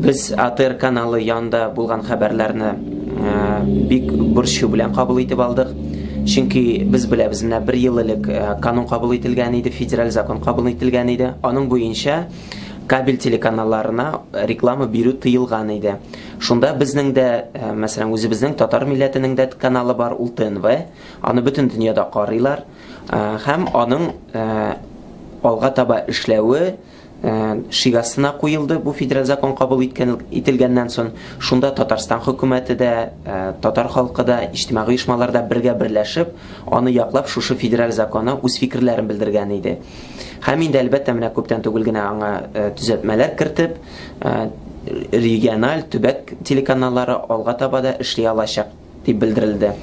Без АТР каналы янында булган хәбәрләрне бик борчу белән кабул итеп алдык. Чөнки без беләбез, менә бер ел элек канун кабул ителгән иде, федераль закон кабул ителгән иде. Аның буенча кабель телеканалларына реклама бирү тыелган иде. Шунда безнең дә, мәсәлән, үзебезнең татар милләтенең дә каналы бар, ул ТНВ. Аны бөтен дөньяда карыйлар. Һәм аның алга таба эшләве шигасына куелды бу федераль закон кабул иткән ителгәннән сон шунда татарстан хөкүмәте дә татар халкы да иҗтимагый оешмалар да бергә берләшеп аны яклап шушы федераль законы үз фикерләрен белдергән иде һәм инде әлбәттә менә күптән түгел генә аңа төзәтмәләр кертеп региональ төбәк телеканаллары алга таба да эшли алачак дип белдерелде.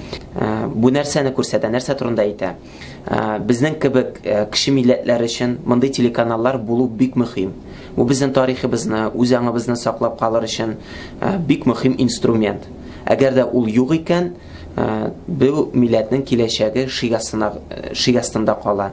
Бу нәрсәне күрсәтә, нәрсә турында әйтә? Безнең кебек кеше милләтләр өчен мондый телеканаллар булу бик мөһим. Бу безнең тарихыбызны, үз аңыбызны саклап калыр өчен бик мөһим инструмент. Әгәр дә ул юк икән, бу милләтнең киләчәге шик астында кала.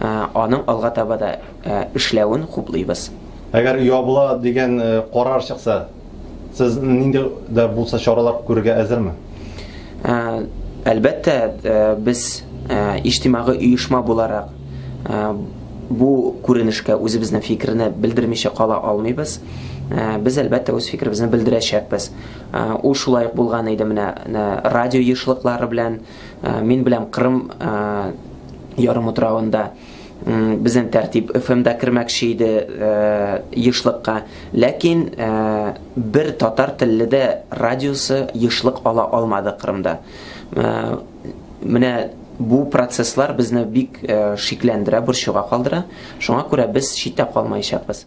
аның алга таба да эшләвен хуплыйбыз. Әгәр ябыла дигән карар чыкса, сез нинди дә булса чаралар күрергә әзерме? Әлбәттә, без иҗтимагый оешма буларак бу күренешкә үзебезнең фикерне белдермичә кала алмыйбыз. Без, әлбәттә, үз фикеребезне белдерәчәкбез. Ул шулай ук булган иде менә радио ешлыклары белән. Мин беләм Кырым ярым утравында безнең тәртип ФМда кермәкче иде ешлыкка, ләкин бер татар телле дә радиосы ешлык ала алмады Кырымда. Менә бу процесслар безне бик шикләндерә, борчуга калдыра. Шуңа күрә без читтә калмаячакбыз.